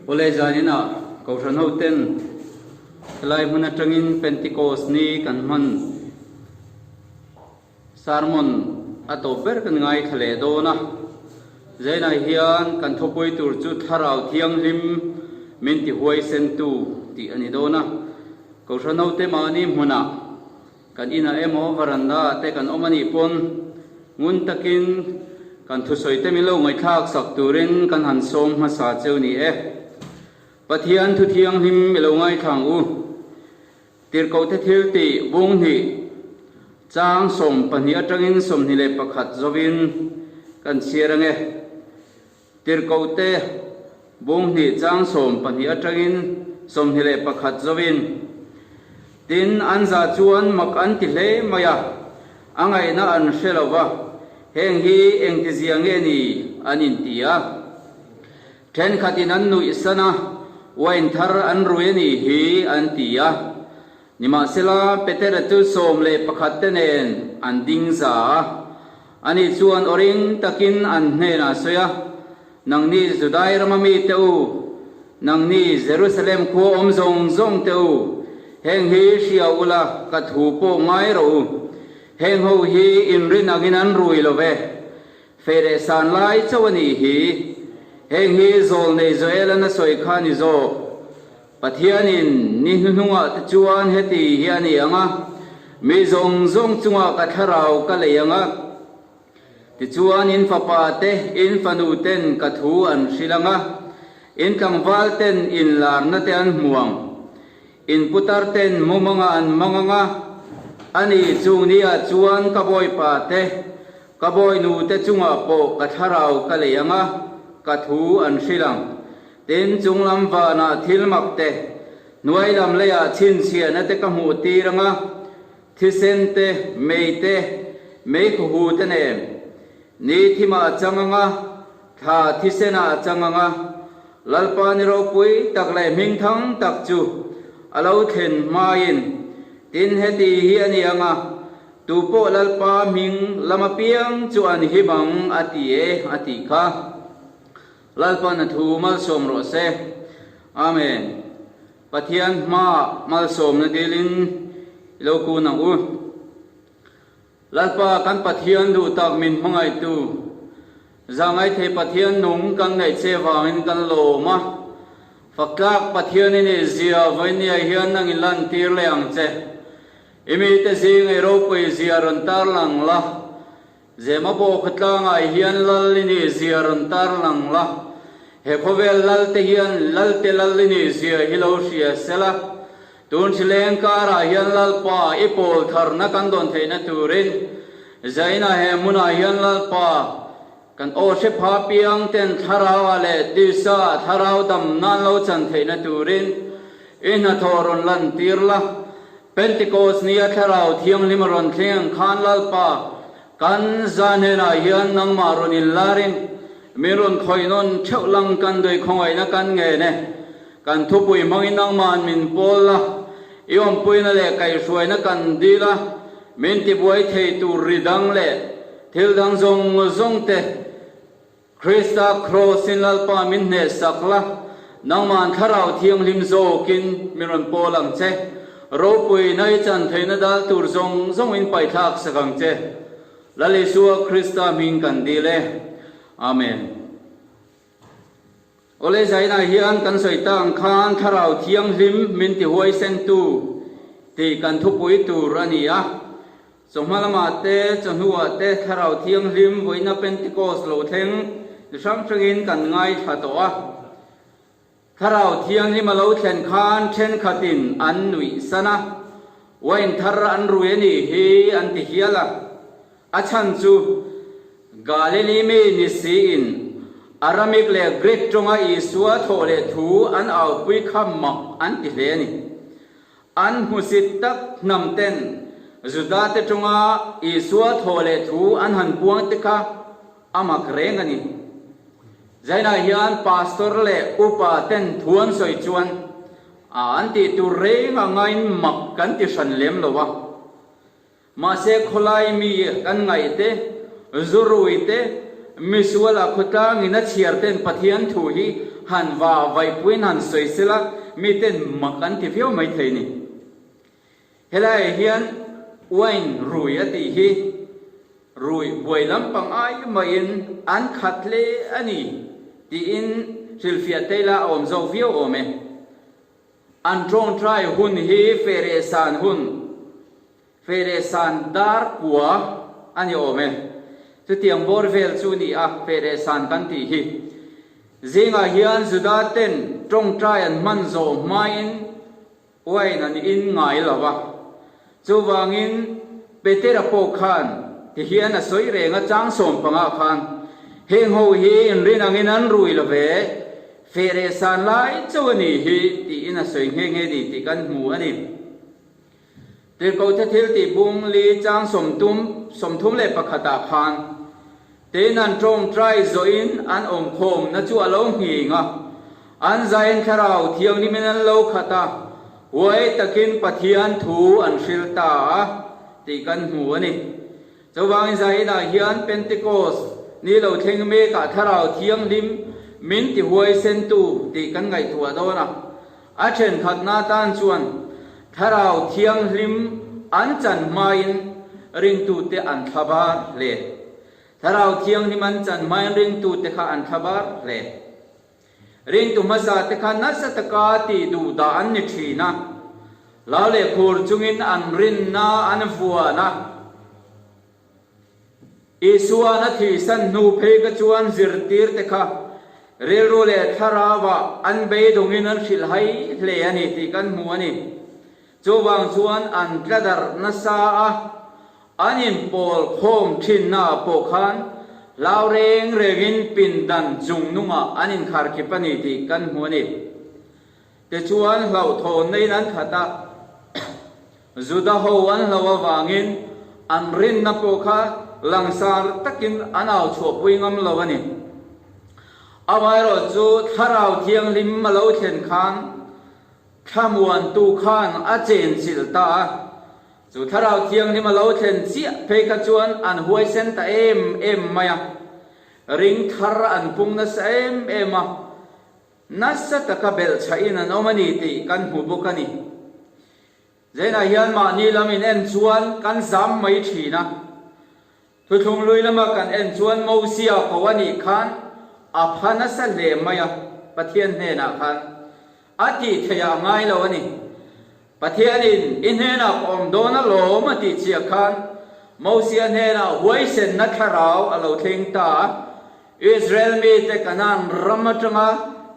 Awle zan inah Kohhran hoten helai hmun atangin Pentecost ni kan hman sermon a tawp ber kan ngaithla leh dawn a. Zainah hian kan thawpui tur chu Thlarau Thianghlim min tihuaisentu tih a ni dawn a. Kohhran hote mahni hmunah Kan inah emaw varanda ah te kan awm a nih pawn, ngun takin kan thusawi te min lo ngawithlak sak turin kan han sawm hmasa cheu ni e. Pathian Thu Thianghlim i lo ngaithlang u. Tirhkoh te thil ti, bung hnih, chang sawm pahnih atangin sawmhnih leh pakhat zawin kan chhiar ange. Tirhkohte, bung hnih chang sawm pahnih atangin sawmhnih leh pakhat zoin. Tin, an za chuan mak an ti hle mai a, a ngaihna an hre lo va, heng hi engtizia nge ni? an inti a. Thenkhatin an nuih san a, wine thar an rui a nih hi an ti a. Nimahsela, Petera chu sawm leh pakhatte nen an ding za a, A nih chuan aw ring takin an hnenah a sawi a, Nang nih Judai rama mite u, nang nih Jerusalem khua awm zawng zawngte u, heng hi hria ula ka thu pawh ngai rawh u. Heng ho hi inrin angin an rui lo ve. Feh leh san lai chauh a nih hi. Heng hi zawl neih zawh el a na sawi kha ni zawh. Pathianin ni hnuhnungah te chuan heti hi a ni ang a, Mi zawng zawng chungah ka thlarau ka lei ang a, tichuan in fapa te in fanu ten ka thu an hrilh ang a, in tlangval ten inlarna te an hmu ang, in putar ten mumanga an mang ang a, ani chung ni ah chuan ka bawipa te ka bawinu te chungah pawh ka thlarau ka lei ang a, ka thu an hrilh ang. Tin, chung lam vanah thil makte, hnuai lam leiah chhinchhiahna te ka hmuh tir ang a, thisen te, mei te, mei khuahu te nen. Ni thim ah a chang ang a, thla thisen ah a chang ang a. Lalpa ni ropui tak leh hming thang tak chu a lo thlen hmain, tin heti hi a ni ang a, tu pawh Lalpa hming lam apiang chu an him ang a ti e, a ti kha. Lalpana thu malsawm rawh se. Amen. Pathian hmaah malsawmna dîlin i lo kûn ang u. Lalpa kan Pathian duhtak min hmangaihtu, zângaithei Pathian nung kan ngaih che vângin kan lâwm a. Faktlâk Pathian i nih zia vawi nia hian nang i lantîr leh ang che. I mite zîng eiropawizia rawn târ lang la. Zema bawk a tlangah hian Lal i nih zia rawn tar lang la, he khawvel lalte hian Lalte Lal i nih zia hi lo hria sela. Tun thleng karah hian Lalpa i pawl tharna kan dawn theihna turin zaina he hmunah hian Lalpa, kan Awhre Pha Piangten thlaraua leh tisa thlarau dam nan lo chan theihna turin i hnathawh rawn lantir la. Pentecost nia Thlarau Thianghlim a rawn thleng khan Lalpa, kan zan hnenah hian nangmah rawn inlarin min rawn khawinawn theuh lang kan dawih khawngaihna kan ngen e. Kan thupui hmangin nangmahan min pawl la, i awmpuina leh kaihhruaina kan dil a, min tibuai thei tur ri dang leh thil dang zawng zawngte Krista Kraws in Lalpa min hnehsak la, nangmah an Thlarau Thianghlim zawk in min rawn pawl ang che. Ropui in ai chan theihna dal tur zawng zawng in paihthlak sak ang che. Lal Isua Krista hming kan dil e. Amen. Awle Zainah hian kan sawi ta ang khan Thlarau Thianghlim min ti huaisentu tih kan thupui tur a ni a. Chawhma lamah te, chawhnuah te Thlarau Thianghlim vawiina Pentecost lo thleng ti hrang hrangin kan ngaithla tawh a. Thlarau Thianghlim a lo thlen khan thenkhatin an nuih san a, wine thar an rui a nih hi an ti hial a. A chhan chu Galili mi ni siin Aramik leh Greek tawnga Isua thawh leh thu an aupui kha mah an ti hle a ni. An hmusit tak hnam ten Judate tawnga Isua thawh leh thu an han buang te kha a mak reng a ni. Zainah hian Pastor leh upa ten thu an sawi chuan an tih tur reng angain mak kan ti hran lem lo a. Mahse khawlai mi kan ngaihte, zuruite, misuala khawtlangin a chhiar ten Pathian thu hi han va vaihpuiin han sawi sel a, mi ten mak an ti viau mai thei ni. Helaiah hian wine rui a tih hi rui buai lam pangai maiin an khat hle a ni tiin hrilhfiah tei la a awm zawk viau awm e. An tawngtai hun hi Feresan hun, Feresan dar kua a ni awm e. Chutiang bawr vel chu ni a, Feresan kan tih hi. Zingah hian Juda ten tawngtai an hman zawh hmain Wain an in ngai lo a. Chuvangin, Petera pawh khan tihian a sawi reng a, Chang sawm panga khan heng ho hi inrin angin an rui lo ve, feh reh san lai chauh a ni hi, tiin a sawi nghe nghe ni tih kan hmu a ni. Tirhkohte thil tihbung li chang sawm tum, sawmthum leh pakhatah khan Tein an tawngtai zawhin an awmkhawmna chu a lo nghing a, an zain thlarau thiangin in an lo khat a, uai takin Pathian thu an hril ta a tih kan hmu a ni. Chuvangin zai inah hian Pentecost ni lo thleng mekah thlarau thianghlim min tihuaisentu tih kan ngaihtuah dawn a. A thenkhatna tan chuan Thlarau Thianghlim an chan hmain ringtute an thlavar hle. Thlarau Thianghlim an chan hmain ringtute kha an thlavar hle. Ringtu hmasate kha nasa taka ti duh dah an ni thin a, hlau leh khur chungin an rinna an vuan a. Isua na thih san hnu phei kha chuan zirtir te kha rilru leh thlarauva an beidawngin an hrilh hai hle a ni tih kan hmu a ni. Chuvang chuan an tla darh nasa a, an inpawl khawm thinnaah pawh khan hlau reng rengin pindan chung nungah an inkhar kip a ni tih kan hmu a ni. Tichuan hlauhthawnna in an khat a. Juda ho an hlo avangin an rinna pawh kha langsar takin an au chhuahpui ngam lo a ni. Amaherawh chu Thlarau Thianghlim a lo thlen khan thlamuantu khan a chen chilh ta a. Chu Thlarau Thianghlim a lo thlen chiah phei kha chuan an huaisen ta em em mai a, ring thar an pung nasa em em a, nasa taka belh chhahin an awm a ni tih kan hmu bawk a ni. Zenah hian mahni lam in en chuan kan zam mai thin a. Thuthlung lui lama kan en chuan Mozia ko a nih khan a pha nasa hle mai a, Pathian hnenah khan a tih theih ah ngai lo a ni. Pathian in i hnenah ka awm dawn alawm a tih chiah khan Mozia hnenah huaisenna thlarau a lo thleng ta a, Israel mi te Canaan ram atanga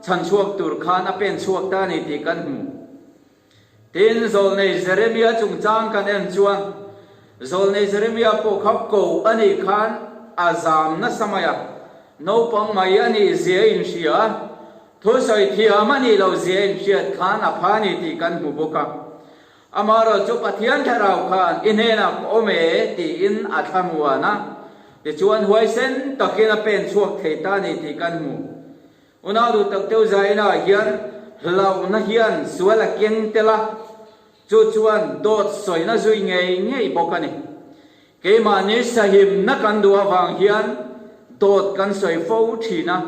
chhan chhuak tur khan a pen chhuak ta a ni tih kan hmu. Tin, zawlnei Jeremia chungchang kan en chuan zawlnei Jeremia pawh kha ko a nih khan a zam nasa mai a, naupang mai a nih zia in hria a, thusawi thiam a nih lo zia in hriat khan a pha ni tih kan hmu bawk a. Amaherawh chu Pathian Thlarau khan i hnenah ka awm e tiin a thlanuan a, tichuan huaisen takin a pen chhuak thei ta ni tih kan hmu. Unau duhtak deuh zaina hian hlauhna hian sual a keng tel a, chu chuan dawt sawina zui ngei ngei bawk a ni. Keimahni sahimna kan duh avang hian dawt kan sawi fo thin a,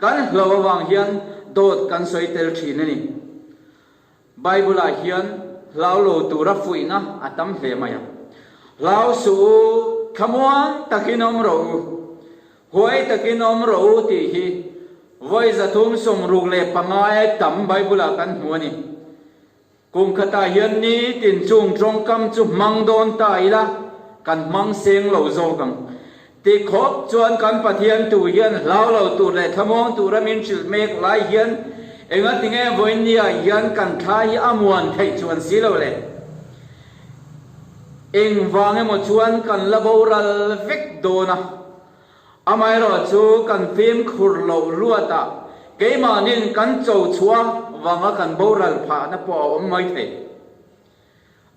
kan hlauh avang hian dawt kan sawi tel thin a ni. Bible-ah hian hlau lo tura fuihna a tam hle mai a. Hlau suh u, thlamuang takin awm rawh u, huai takin awm rawh u tih hi vawi zathum sawmruk leh pangai a tam Bible-ah kan hmu a ni. Kum khatah hian nitin chung tawngkam chu hmang dawn ta ila kan hmang seng lo zawk ang. Ti khawp chuan kan Pathian tu hian hlau lo tur leh thlamawng tura min hrilh mek lai hian engatinge vawiin nia hian kan thlai hi a muan theih chuan si lo le. Eng vang emaw chuan kan la bo ral vek dawn a. Amaherawh chu kan fimkhur loh luatah keimahnin kan cho chhuah vanga kan bo ral phahna pawh a awm maithei.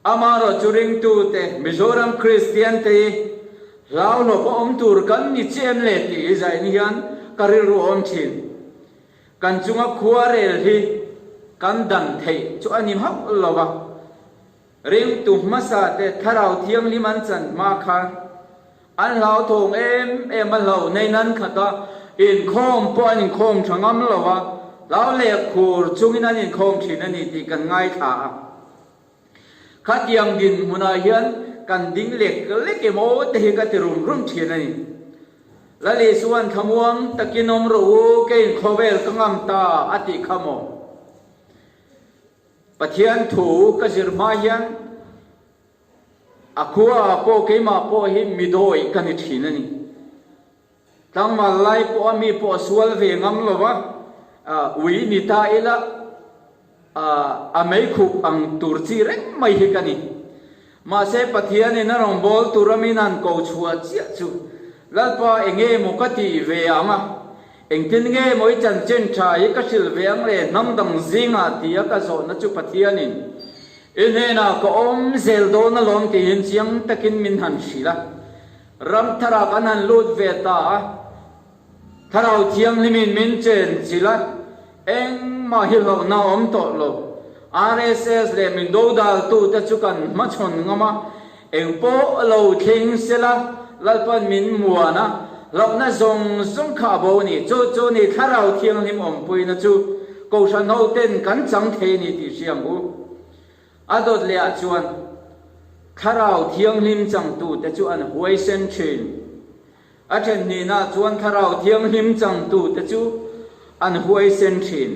Amaherawh chu ringtute Mizoram Kristian te hi hlauhlawp a awm tur kan ni chiah em le tih hi zain hian ka rilru awm thin. Kan chunga khuarel hi kan dan theih chu a ni hauh lo va, ringtu hmasa te Thlarau Thianghlim an chan hma khan An hlauthawng em em a hlau nei nan khat a, inkhawm pawh an inkhawm tha ngam lo a, hlau lek khur chungin an inkhawm thin a ni tih kan ngaithla a. Khatiang dinhmunah hian kan ding lek lek em aw te hi ka ti rum rum thin a ni. Lali chuan thlamuang takin awm rawh u, ka inkhawvel ka ngam ta a tih kha maw? Pathian thu ka zir hma hian. A khua ah pawh keimah pawh hi mi dawi ka ni thin a ni. Tlangval lai pawh a mi pawh a sual ve ngam lo va, ui ni ta ila a meikhup ang tur chi reng mai hi ka ni. Mahse Pathian in a rawn bawl tur a min han ko chhuah chiah chu Lalpa eng e maw ka tih ve ang a, engtin nge maw i chanchin tha hi ka hrilh ve ang le hnam dang zingah tia ka zawhna chu Pathian in I hnenah ka awm zel dawn alawm tiin chiang takin min han hrilh a, ram thar ah kan han lut ve ta a, Thlarau Thianghlim in min chen chilh a, engmah hi hlawkna a awm tawh lo, RSS leh min dodaltu te chu kan hmachhawn ngam a, Eng pawh a lo thleng se la, Lalpa'n min muan a, hlauhna zawng zawng kha a bo ni. Chu chu ni Thlarau Thianghlim awmpuina chu kohhran hoten kan chang thei ni tih hriam u. A dawt lehah chuan Thlarau Thianghlim changtute chu an huaisen thin. A thenhnihna chuan Thlarau Thianghlim changtute chu an huaisen thin.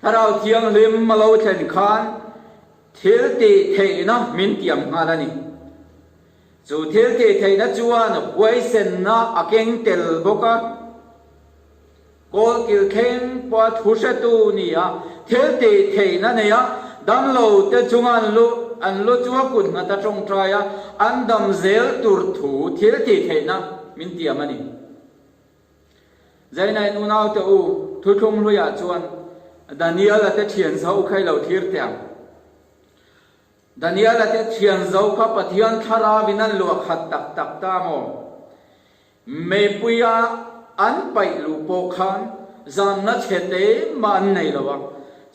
Thlarau Thianghlim a lo thlen khan Thil tih theihna min tiam nghal a ni. Chu thil tih theihna chuan huaisenna a keng tel bawk a. Kawlkil thleng pawha thu hretu nia thil tih theihna neia damlo te chunga an lu an lu chu a kut nghat a tawngtai a, an dam zel tur thu thil tih theihna min tiam a ni. Zainai nu naute U Thu Thlung Hluiah chuan Daniel a te thian zo khai lo thlir teh ang. Daniel a te thian zo kha Pathian Thlarau in an luah khat tak tak ta maw? Meipuia an paih luh pawh khan zamna chhe te mah an nei lo a.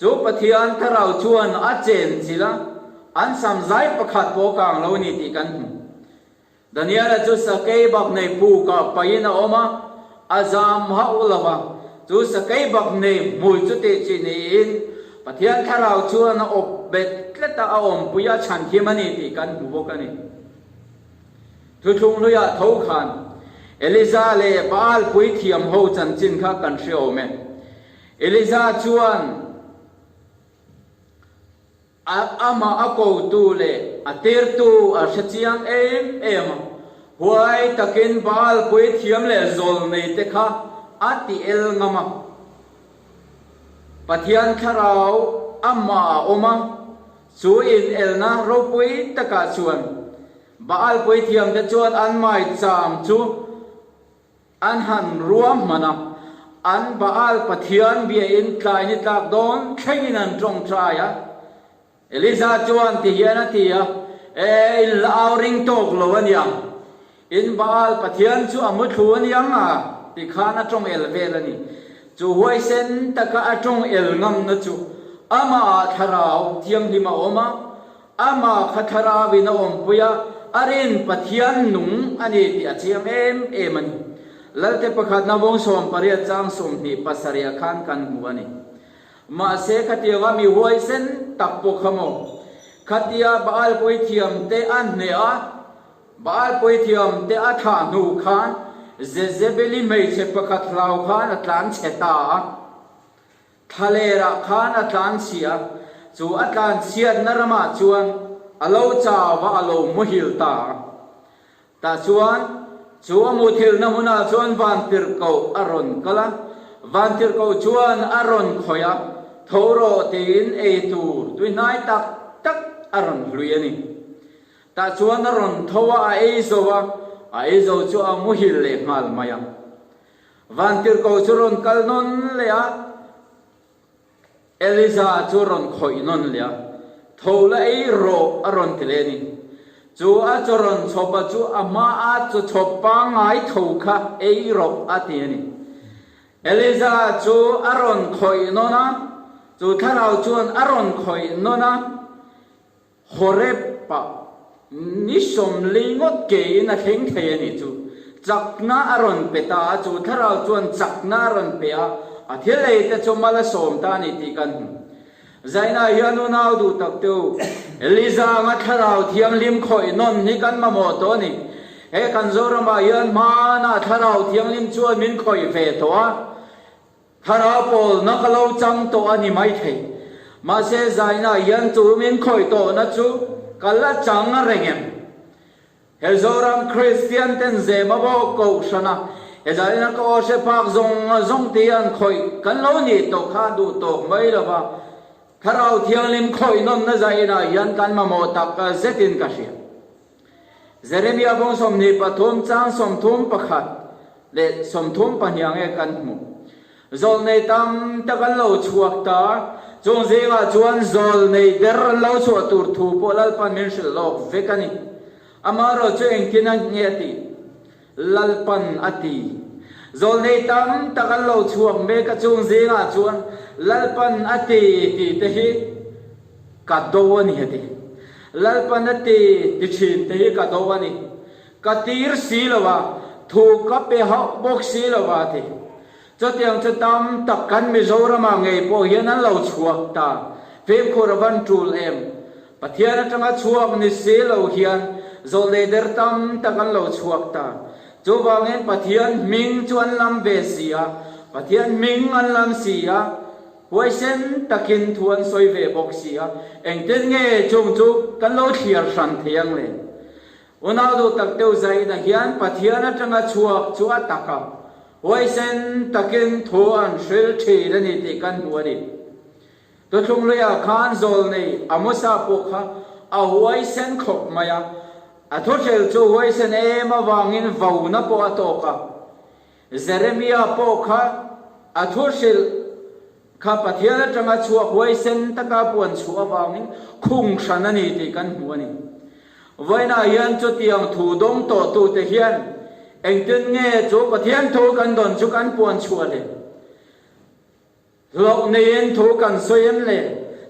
Chu Pathian Thlarau chuan a chenchilh a, an samzai pakhat pawh kang lo ni tih kan hmu. Daniela chu sakei bak nei pu kah paihin a awm a, a zam hauh lo va, chu sakei bak nei hmui chu teh chih niin Pathian thlarau chuan a awp bet tletah a awmpui a chhanthim a ni tih kan hmu bawk a ni. Thuthlung hluiah tho khan Eliza leh Baal puithiam ho chanchin kha kan hriawm e. Eliza chuan. A amah a kotu leh a tirtu a hrechiang em em a, huai takin Baal puithiam leh zawl neite kha a tiel ngam a. Pathian thlarau amah a awm a, chu inelna ropui takah chuan Baal puithiamte chuan an mai cham chu An han ruah hman a, an Baal pathian biain tlai ni tlak dawn thlengin an tawng chai a. Elija chuan ti hian a ti a, E, in la au ring tawk lo a nia. In Baal pathian chu a muthlu a nia nga, ti khan a tawng el vel a ni. Chu huaisen taka a tawng el ngamna chu amah ah Thlarau thianghlim a awm a. Ama kha thlaravin a awmpui a, a rin Pathian nung a ni tih a chiang em em a ni. Lalte pakhat navawng sawm pariat chang sum hnih pasarih a khan kan hmu a ni. Mahse khatianga mi huaisen tak pawh kha maw khatia Baal puithiam te a hneh a, Baal puithiam te a thah hnu kha Jezebeli hmeichhe pakhat hlau khan a tlan chhe ta a. Thlalêrah khân a tlân chhiah. Chu a tlân chhiatna ramah chuan a lo chau a, a lo muhil ta a. Tah chuan chu a muthilna hunah chuan Vantirhko a rawn kal a. Vantirhko chuan a rawn khawih a, tho rawh tiin ei tur tuihnai tak tak a rawn hlui a ni. Tah chuan a rawn tho a, a ei zo a, a ei zo chu a muhil leh nghal mai a. Vantirhko chu rawn kal nawn leh a, Eliza chu rawn khawih nawn leh a, tho la ei rawh a rawn ti leh a ni. Chu a chawrawn chhawpa chu a hma a chawchhawp pangngai tho kha ei rawh a ti a ni. Eliza chu a rawn khawih nawn a, chu thlarau chuan a rawn khawih nawn a. Horeb-a ni sawmli ngawt keiin a thleng thei a nih chu. Chakna a rawn pe ta a, chu thlarau chuan chakna a rawn pe a, a thilei te chu mal a sawm ta a ni tih kan hmu. Zainah hian unau duh tak te u, Lizanga thlarau thianghlim khawih nawn hi kan mamawh tawh a ni. He kan Zoramah hian hmanah thlarau thianghlim chuan min khawih ve tawh a. Thlarau pawl na ka lo chang tawh a ni maithei. Mahse Zainah hian chu min khawih tawhna chu ka la chang a reng em? He Zoram Kristian ten zema bawk kohhrana he Zainah ka aw hre phak zawng zawng ti hian khawih kan lo nih tawh kha a duh tawk mai lo va. Thlarau Thianghlim khawih nawnna Zainah hian kan mamawh tak zetin ka hria. Jeremia vawng sawmhnih pathum chang sawmthum pakhat leh sawmthum pahnih ang e kan hmu. Zawl nei tam tak an lo chhuak ta. Chung zingah chuan zawl nei ber an lo chhuah tur thu pawh Lalpan min hrilh lawk vek a ni. Amaherawhchu engtin a nge tih? Lalpan a ti. Zawlnei tam tak an lo chhuak mek a chung zingah chuan Lalpan a ti tihte hi ka do a ni a ti. Lalpan a ti ti thinte hi ka do a ni. Ka tir si lo a, thu ka pe hauh bawk si lo a ti. Chutiang chu tam tak kan Mizoramah ngei pawh hian an lo chhuak ta. Fekkhur a van tul em? Pathian atanga chhuak ni si lo hian zawhlei der tam tak an lo chhuak ta. Chuvangin Pathian hming chu an lam ve si a, Pathian hming an lam si a, huaisen takin thu an sawi ve bawk si a. Engtin nge chung chu kan lo thliar hran thei ang le? Ronaldo tak deuh zaina hian Pathian atanga chhuak chu a tak a, huaisen takin thu a an hril thin a ni tih kan hmu a ni. Tawthlung luiah khan zawl nei a mawsa pawh kha a huaisen khawp mai a, a thuhril chu huaisen em avangin vona pawh a tawk a. Jeremia pawh kha a thu hrilh kha Pathian atanga chhuak uai sen taka puan chhuah avangin khung hran a ni tih kan hmu a ni. Vawiinah hian chutiang thu dawng tawhtute hian engtin nge chu Pathian thu kan dawn chu kan puan chhuah hle? Hlauh neiin thu kan sawi em le?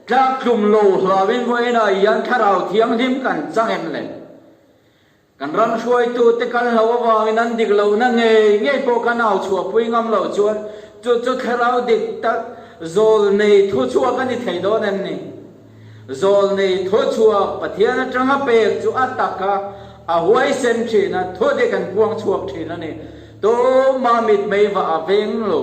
Tlak tlum lo hlauhin vawiinah hian Thlarau Thianghlim kan chang em le? Kan ram hruaitute kal hlauh avangin an dik lohna ngei ngei pawh kan au chhuah pui ngam lo chuan chu chu thlarau dik tak zawl nei thu chhuak a ni thei dawn em ni? Zawl nei thu chhuak Pathian atanga pek chu a tak kha a huaisen thin a, thu te kan puang chhuak thin a ni. Tumah mitmei vah a veng lo.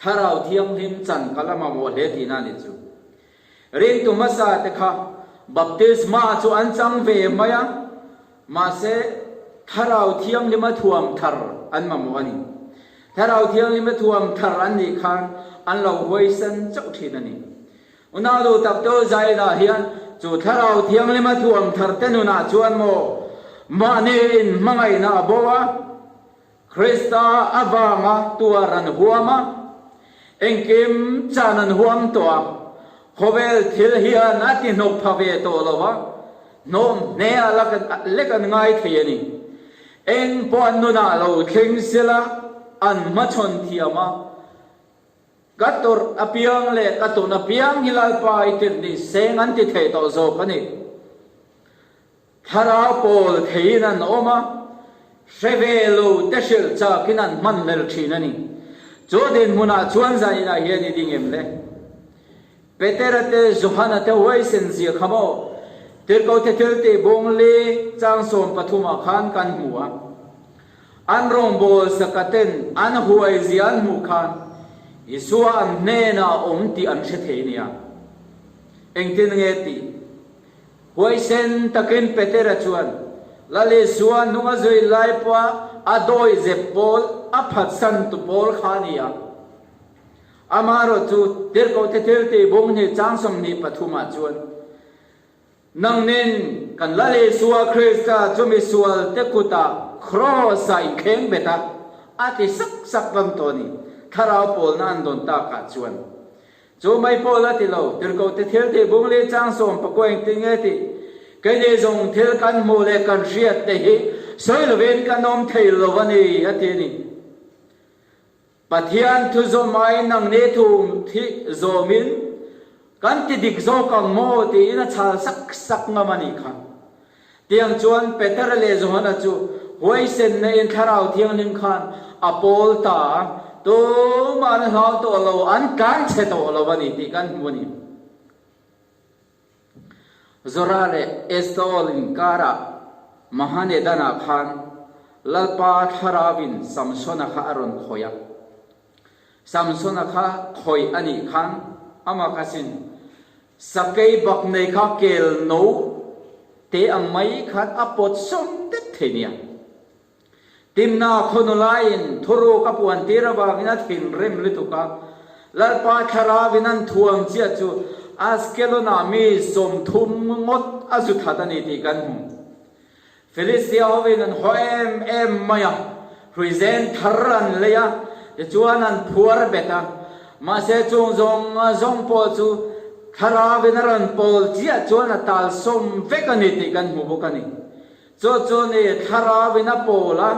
Thlarau Thianghlim chan ka la mamawh hle tihna ni chu. Ritu hmasa te kha Baptisma chu an chang ve mai a, mahse Thlarau Thianghlima thuam thar an mamawh a ni. Thlarau Thianglima thuam thar an nih khan an lo huaisan chauh thin a ni. Unaudu Takto Zaina hian chu Thlarau Thianglima thuam thar te nunah chuan maw mahniin hmangaihna a bo a, Krista avanga tuar an huam a, engkim chan an huam tawh a, khawvel thil hian a tihnawk pha ve tawh lo a, hnawm hne a la lek an ngai thei a ni. Eng pawh an nunah lo thleng sela an hmachhawn thiam a, Ka tawrh apiang leh ka ton apiang hi Lalpa i tirh ni seng an ti thei tawh zawk a ni. Thlarau pawl theiin an awm a, hre ve lo te hrilh chakin an hman hmelh thin a ni. Chu a din hmunah chuan zan inah hian i ding em le? Petera te, Johana te huaisen zia kha maw? Tirhkote thil tih bawng li chang sawm pathumah khan kan hmu a, an rawngbâwl sakaten an huai zia an hmuh khan Isua an hnênah a awm tih an hre thei nia. Engtin nge tih? Huai sen takin Petera chuan Lalisua hnunga zui lai pawha a dawi zep pawl a phatsan tu pawl kha ni a. Amah rawh chu Tirhkohte thil tih bung ni chang sawmhnih pathum ah chuan nang nen kan Lalisua Krista chumi sualte kut ah Kraws ah in thleng bet a, a ti sak sak bang tawh a ni. Thlarau pawlna an dawn tak ah chuan Chu mai pawh la ti lo, tirhkohte thil tih bung leh chang sawm pakua eng ti nge tih. Kei nih zong thil kan hmuh leh kan hriat te hi sawi lovin kan awm thei lo a ni a ti a ni. Pathian thu zawm ai nang nih thu um thih zawm in kan ti dik zawk ang maw tiin a chal sak sak ngam a ni kha. Tiang chuan Peter leh Johana chu huaisenna in Thlarau Thianghlim khan a pawl ta a, tum an hlau tawh lo, an tlan chhe tawh lo a ni tih kan hmu a ni. Zora leh Estaol inkarah Mahanedana khan Lalpa thlarauin Samsona kha a rawn khawih a. Samsona kha khawih a nih khan amakasin Sakei bak nei kha kel no te ang mai khan a pawt sawm det thei nia. Timna khaw nu laiin thuruk a puan tir avangin a thinrim lutuk a. Lalpa thlarau in an thuam chiah chu Askelona mi sawmthum ngawt a zu that a ni tih kan hmu. Filistia hoin an haw em em mai a, hruizen thar an lei a, tichuan an phuar bet a, mahse chung zawng zawng pawh chu thlarauin a rawn pawl chiah chuan a talsawm vek a ni tih kan hmu bawk a ni. Chu chu ni thlarauin a pawl a,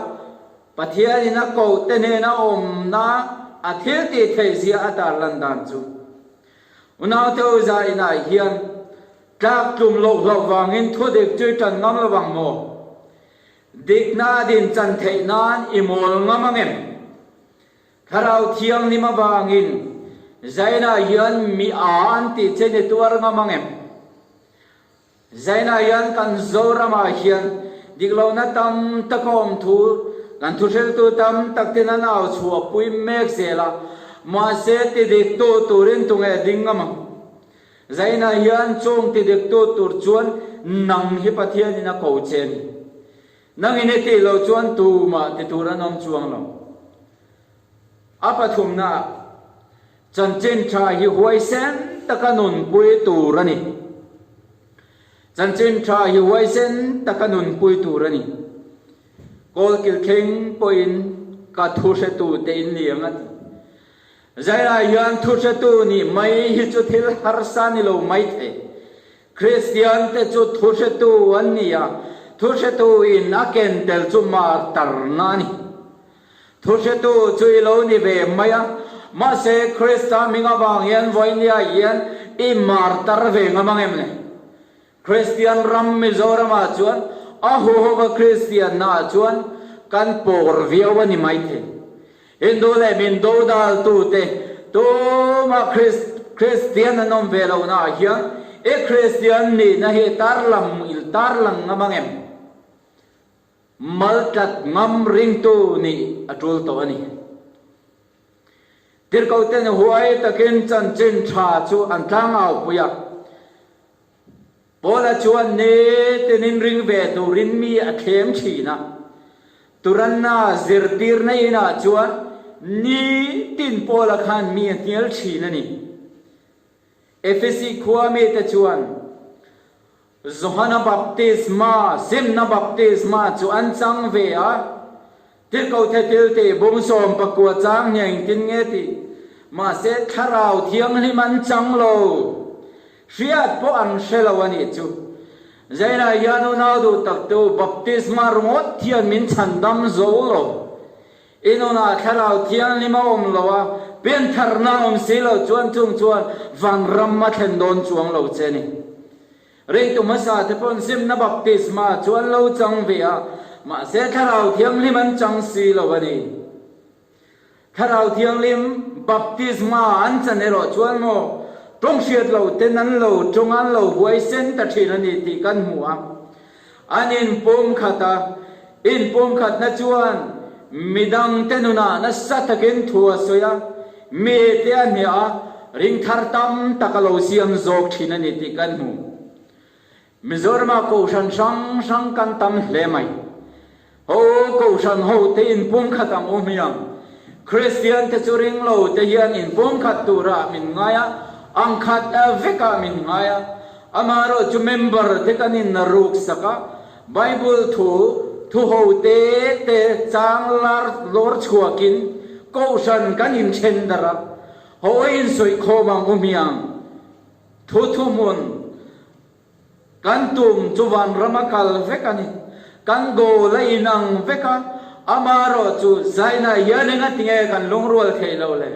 Pathianin a kohte hnena awmna a thiltihtheih zia a tarlan dan chu. Unau Toza in ai hian tlak tlum loh hlauh vangin thaw dik chu i tan ngam lo vang maw? Dikna a din chan theih nan i mawl ngam ang em? Thlarau Thianghlim avangin zainah hian mi aa an tih chen i tuar ngam ang em? Zainah hian kan Zoramah hian diklohna tam tak a awm thu kan thuhriltu tam tak ten an au chhuah pui mek zel a, mahse ti dik tu turin tu ngeh ding a mang. Zainah hian chûng ti dik tu tur chuan nang hi Pathianin a ko che ni. Nangin i tih loh chuan tumah ti tur an awm chuang lo. A pathumnaah, chanchin tha hi huaisen taka nunpui tur a ni. Chanchin tha hi huaisen taka nunpui tur a ni. Kawlkil thleng pawhin ka thu hretute in ni ang a ti. Zainah hian thu hretu nih mai hi chu thil harsa ni lo maithei. Kristian te chu thu hretu an ni a, thu hretu in a ken tel chu martarna a ni. Thuhretu chu i lo ni ve mai a, mahse Krista hming avang hian vawinia hian i mar tar ve ngam ang em le? Kristian ram Mizoramah chuan a huhhuva Kristianna ah chuan kan pawr viau a ni maithei. Hindu leh min do daltu te tumah Krist, Kristian an awm ve lo naah hian i Kristian nihna hi tarlam, tarlang ngam ang em? Mal tat ngam ringtu nih a tul tawh a ni. Tirhkoh te nih huai takin chanchin tha chu an tlang au pui a. Paula chuan ne tin in ring ve turin mi a thleng thin a. Turanna zirtirna in ah chuan ni tin Paula khan mi a hnial thin a ni. Efesi khua mite chuan Johana Baptisma zimna baptisma chu an chang ve a, Tirhkoh the thil teh bum sawm pakua chang nia engtin nge ti? Mahse Thlarau Thianghlim an chang lo, hriat pawh an hre lo a nih chu. Zainah hian unau duh takte u baptisma rawngawt hian min chhandam zo lo. I nunah thlarau thianghlim a awm lo a, pianpharna a awm si lo chuan chung chuan vang ram a thlen dawn chuang lo che ni. Reitu hmasa te paw'n zimna baptisma chu an lo chang ve a, mahse thlarau thianghlim an chang si lo a ni. Thlarau thianghlim baptisma an chan erawh chuan maw tawng hriat lo te nan lo tawnga an lo huaisen ta thin a ni tih kan hmu a, An in pumkhat a, in pumkhatna chuan mi dangte nunah nasa takin thu a sawi a, mi te a hniah a, ring thar tam tak a lo siam zawk thin a ni tih kan hmu. Mizorama kohhran hrang hrang kan tam hle mai. Ho Kohhran ho te in pumkhat ang u hmiang. Kristian te chu ring lo te hian in pumkhat turah min ngai a, ang khat vekah min ngai a. Amaherawh chu member te kan in na ruk sak a. Bible thu thu ho te te chang lar lawr chhuak in Kohhran kan in then dar a. Ho in sawi khawm ang u hmiang. Thu thu hmun. Kan tum chu vanram a kal vek a ni. Kan goal a inang vek a, ama erawh chu Zaina hian eng a ti nge kan lungrual thei lo le.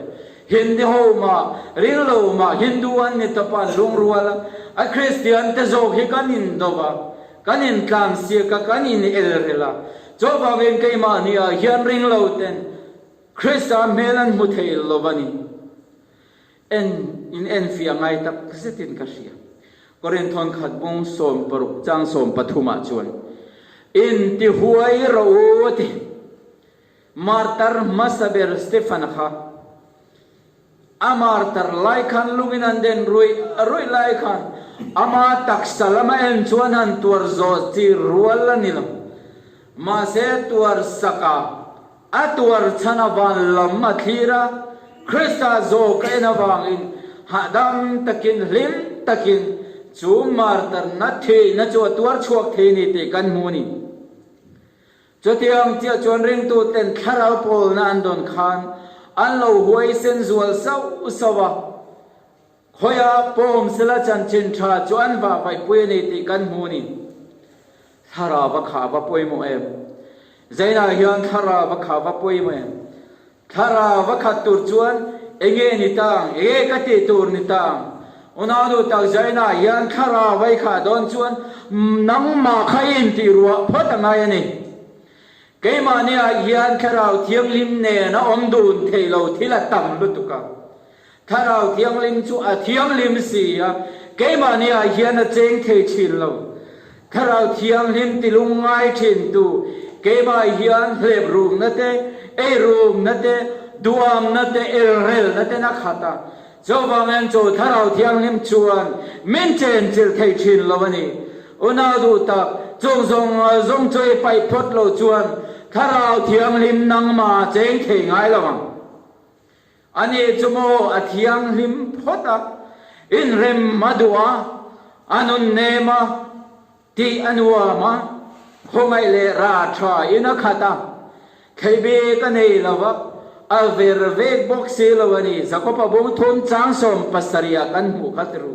Hindi ho mah, ringlo mah Hindu an ni tawp a an lungrual a, a Kristian te zawk hi kan indo va, kan intlan siak a, kan inelrel a. Chu vangin keimah ni ah hian ringloten Krista hmel an hmu thei lo va ni. En in en fiah ngai tak zetin ka hria. Korin thawn khat bung sawm paruk chang sawm pathumah chuan, In ti huai rawh u a ti. Martar hmasa ber Stephan kha a martar lai khan lungin an den ruih ruih lai khan ama taksa lama en chuan han tuar zawh chi rual a ni lo. Mahse tuar sakah A tuar chhan a van lam a thlir a, Krista zawk a en avangin hahdam takin, hlim takin chu martarna theihna chu a tuar chhuak thei a ni tih kan hmu a ni. Chutiang chiah chuan ringtuten thlarau pawlna an dawn khan an lo huaisen zual sauh sauh a. Khawia pawm sela chanchin tha chuan va vaipui a ni tih kan hmu a ni. Thlara va kha va pawih maw em? Zainah hian thlara va kha va pawih maw em? Thlara va khat tur chuan enge ni tang, enge ka tih tur ni tang? Unaudu tak Zainah hian thlara vai khah dawn chuan nangmah kha i intih ruah phawt a ngai a ni. Keimahniah hian Thlarau Thianghlim nen a awm dun theih lo thil a tam lutuk a. Thlarau Thianghlim chu a thianghlim si a, keimahni ah hian a cheng thei thin lo. Thlarau Thianghlim ti lung ngai thin tu keimah hian hlep rumna te, ei rumna te, duhawmna te, elrelna ten a khat a. Chuvang en chu Thlarau Thianghlim chuan min chen chilh thei thin lo a ni. Unau duh tak, chung zawng zawng chu i paih phawt lo chuan Thlarau Thianghlim nangma cheng thei ngai lo ang. A nih chu maw a thianghlim phawt a, inrem a duh a, a nun nem a, tih a nuam a, khawngaih leh ra tha in a khat a, theih bik a nei lo a, a ver vek bawk si lo a ni, Zakopa bungthum chang sawm pasarih ah kan hmuh khat ru.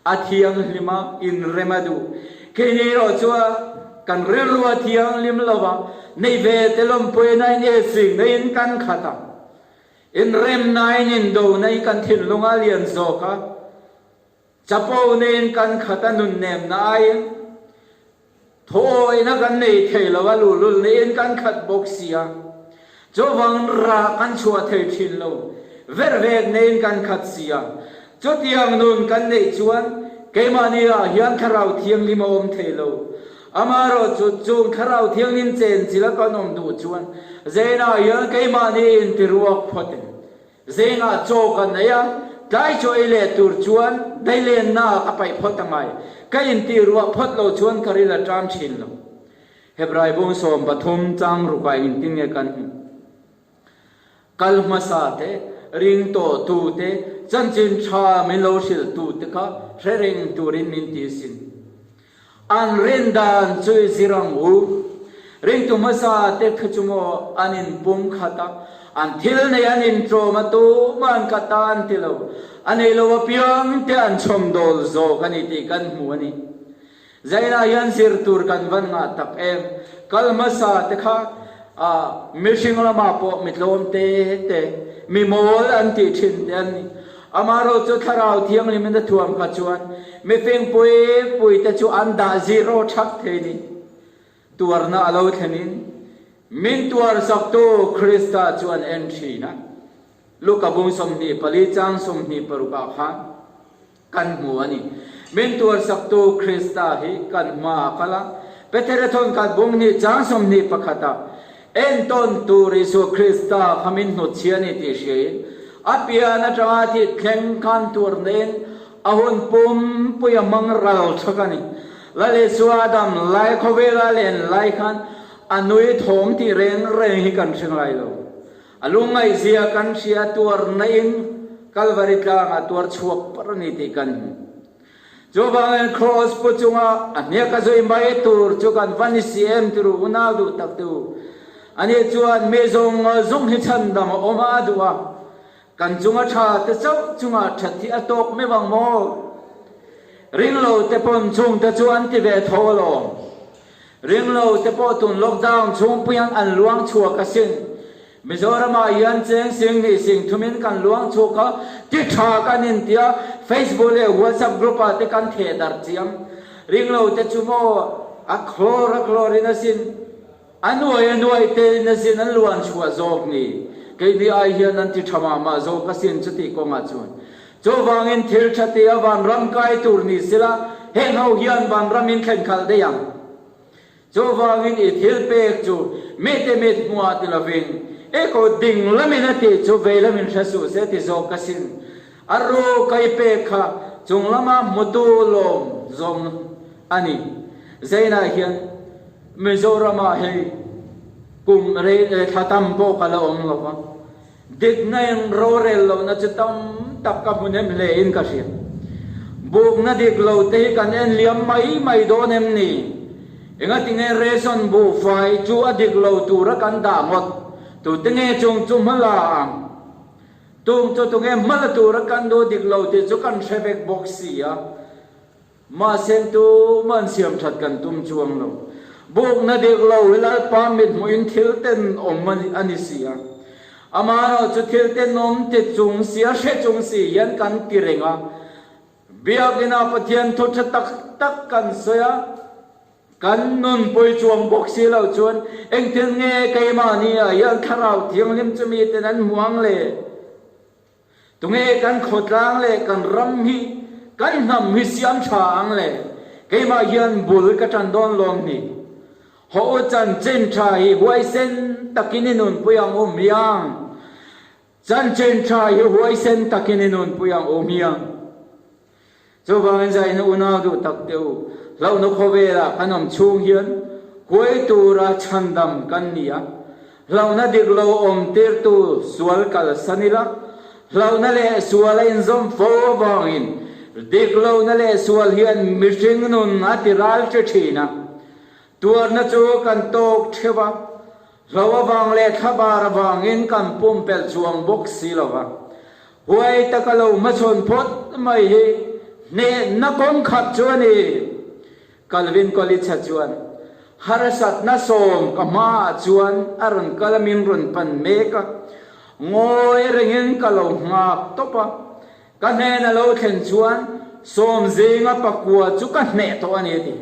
A thianghlim a inrem a duh. Kei ni erawh chuan kan rilrua thianghlim lova nei ve te lawmpuina in ei sik na in kan khat a. Inrem na in indo na in kan thinlung a lian zawk a. Chapo na in kan khat a nunnem na aiin. Thawhawina kan nei thei lo a luhlul niin kan khat bawk sia. Chuvang rah kan chhuah thei thin lo, ver vek neiin kan khat sia. Chutiang nun kan neih chuan keimahni ah hian Thlarau Thianghlim a awm thei lo. Amaherawh chu chung Thlarau Thianghlim chenchila kan awm duh chuan zainah hian keimahni inti ruak phawtin Zênga chaw ka neih a, tlai chaw ei leh tûr chuan daihlennaah a paih phawt a ngai. Ka intihruah phawt lo chuan ka ri la ṭâm ṭhin lo. Hebrai bûng sawm pathum châng rukah inti nge kan hmu? Kal hmasa te, ring tawh tu te, chanchin ṭha min lo hrilh tu te kha hrereng tûrin min tih sin. An rin dan chu i zir ang u. Ringtu hmasa te thu chu maw an in pum khat a, an thil nei an in tlawm a tum a an ka tan ti lo. A nei lo apiang te an chhawm dawl zawk a ni tih kan hmu a ni. Zainah hian zir tur kan van ngah tak em. Kal hmasa te kha ah mihring lamah pawh mitlawmte te, mimawl an tih thin te an ni. Amaherawh chu Thlarau Thianghlim in a thuam kha chuan mifing pui pui te chu an dah zero thap thei ni. Tuarna a lo thlen in min tuar saktu Krista chu an en thin a. Luka bung sawmhnih pali chang sawmhnih paruk ah khan kan hmu a ni. Min tuar saktu Krista hi kan hma ah kal a. Peterathon khat bunghnih chang sawmhnih pakhat ah Eng tawn tur Isua Krista kha min hnut chhia ni tih hriain a pian atanga thih thleng khan tur nehin a hun pumpui a hmang ral chak a ni. Lalisua dam lai khawvela len lai khan a nui thawm tih reng reng hi kan hre ngai lo. A lungngaihzia kan hria tuar naihin Kalvari tlangah tuar chhuak par a ni tih kan hmu. Chuvang in Kraws pu chunga a hmiak a zui mai tur chu kan va ni si em turu unau duh tak duh a nih chuan mi zawng zawng hi chhan dam a awm a a duh a kan chunga tha te chauh chunga that hi a tawk meuh ang maw? Ring lo te pawn chungte chu an ti ve tho alawm. Ringlo te pawh tun lockdown chhungpuiin an an luang chhuak a sin. Mizoramah hian cheng sing hnih sing thumin kan luang chhuak a, ti tha kan intia Facebook leh WhatsApp group ah te kan theh darh chiam. Ringlo te chu maw a khlawr a khlawr in a sin, a nuai a nuai te in a sin an luan chhuah zawk ni? Kei ni ai hian an ti tha mah mah zawk a sin chuti kawngah chuan. Chuvangin thil tha tia vanram kai tur ni sela, heng ho hian vanram in thlen khalh daih ang. Chuvangin i thil pek chu mite mit hmuah ti lovin, i kut ding lamin a tih chu vei lamin hre suh se ti zawk ka sin. A ru kai pek kha chung lama hmutu lawm zawm a ni. Zainah hian Mizoram ah hi kum rei leh thlatam pawh kal a awm lo va. Dikna in rorel lohna chi tam tak ka hmu nem hle in ka hriat. Bukna dik lo te hi kan en liam mai mai dawn em ni? Engatin nge ration buhfai chu a dik lo tura kan dah ngawt? Tute nge chung chu hma la ang? Tumchawtu nge hma la tura kan duh dik lo tih chu kan hre vek bawk sia. Mahsen tum an siam that kan tum chuang lo. Buk na dik lo hi Lalpa mithmuhin thil ten awm a ni si a. Amah erawh chu thil ten awm ti chung si a hre chung si hian kan ti reng a. Biakin a Pathian thu tha tak tak kan sawi a, kan nun pawi chuang bawk si lo chuan eng thil nge keimah nia hian Thlarau Thianghlim chu miten an hmuh ang le? Tunge kan khawtlang leh kan ram hi kan hnam hi siam tha ang le? Keimah hian bul ka tan dawn lawm hnih. Haw u chanchin tha hi huaisen takin i nunpui ang u hmiang. Chanchin tha hi huaisen takin i nunpui ang u hmiang. Chuvangin zaina unau duh tak teh u. Hlauhna khawvela kan awm chhung hian huai tura chhandam kan ni a. Hlauhna dik lo awm tirtu sual kalsan ila hlauhna leh sual a inzawm fo avangin dik lohna leh sual hian mihring nun a tiral tli thin a. Tuarna chu kan tawk theuh a, hlo avang leh thla bar avangin kan pumpelh chuang bawk si lo va, huai taka lo hmachhawn phawt mai hi hnehna kawng khat chu a ni. Calvin Coolidge-a chuan, Harsatna sawm ka hmaah chuan a rawn kal a, min rawn pan mek a, ngawi rengin ka lo nghak tawp a, ka hnena lo thlen chuan sawm zinga pakua chu ka hneh tawh a ni a ti.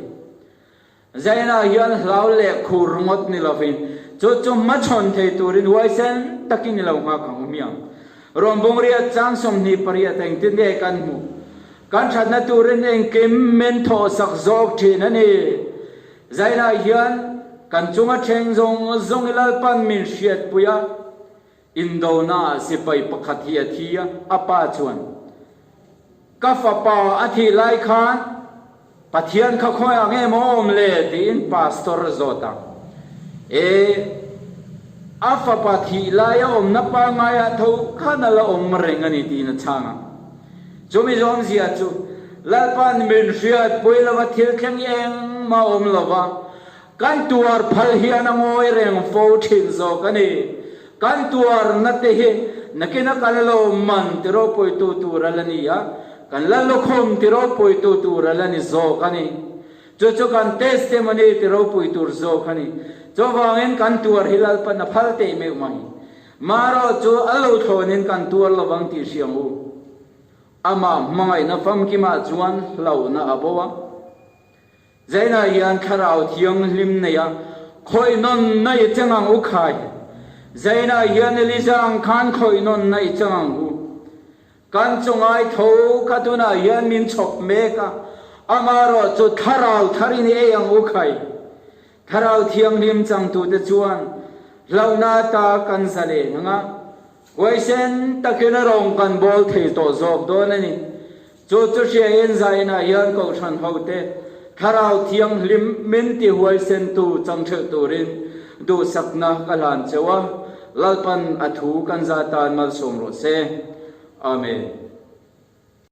Zainah hian hlau leh khur ngawt ni lovin, chu chu hmachhawn thei turin huaisen takin ni lo nghak ang awmia, rawmbawng riat chang sawmhnih pariat a engtin nge kan hmuh? Kan thatna turin engkim min thawhsak zawk thin a ni. Zainah hian kan chunga thleng zawng zawng i lalpan min hriatpui a, Indona-ah sipai pakhat hi a thi a, a pa chuan, Ka fapa a thih lai khan Pathian kha khawi ang em a awm le tiin pastor a zawt a. E, a fapa thih lai a awmna pangngai ah tho khan ala awm reng a ni tiin a chhang a. Chumi zawmzia chu, Lalpa'n min hriat pui lova thil thleng engmah a awm lova, Kan tuar phal hian a ngawi reng fo thin zawk a ni. Kan tuar na te hi nakin a kan lo man ti ropuitu tura la ni a, kan la lukhum ti ropuitu tura la ni zawk a ni. Chu chu kan testimony ti ropui tur zawk a ni. Chuvangin kan tuar hi lalpa na phal teh meuh mai. Marawh chu a lo thlawnin kan tuar lo vang tih hriam u. Amah hmangaihna famkimah chuan hlauhna a bo a. Zaina hian thlarau thianghlim neia khawinawn naih che ngang u khai. Zaina hian Lizang khan khawinawn naih che ngang u. Kan chu ngai tho kha tunah hian min chhawp mek a, ama erawh chu thlarau thar in i ei ang u khai. Thlarau thianghlim changtute chuan hlauhna ata kan zaleng ang a. Huai sen takin a rawng kan bawl thei tawh zawk dawn a ni. Chu chu hriain zainah hian Kohhran hote Thlarau Thianghlim min ti huaisentu changṭhelh turin duhsakna ka hlan cheu a, Lalpan a thu kan za tan malsawm rawh se. Amen.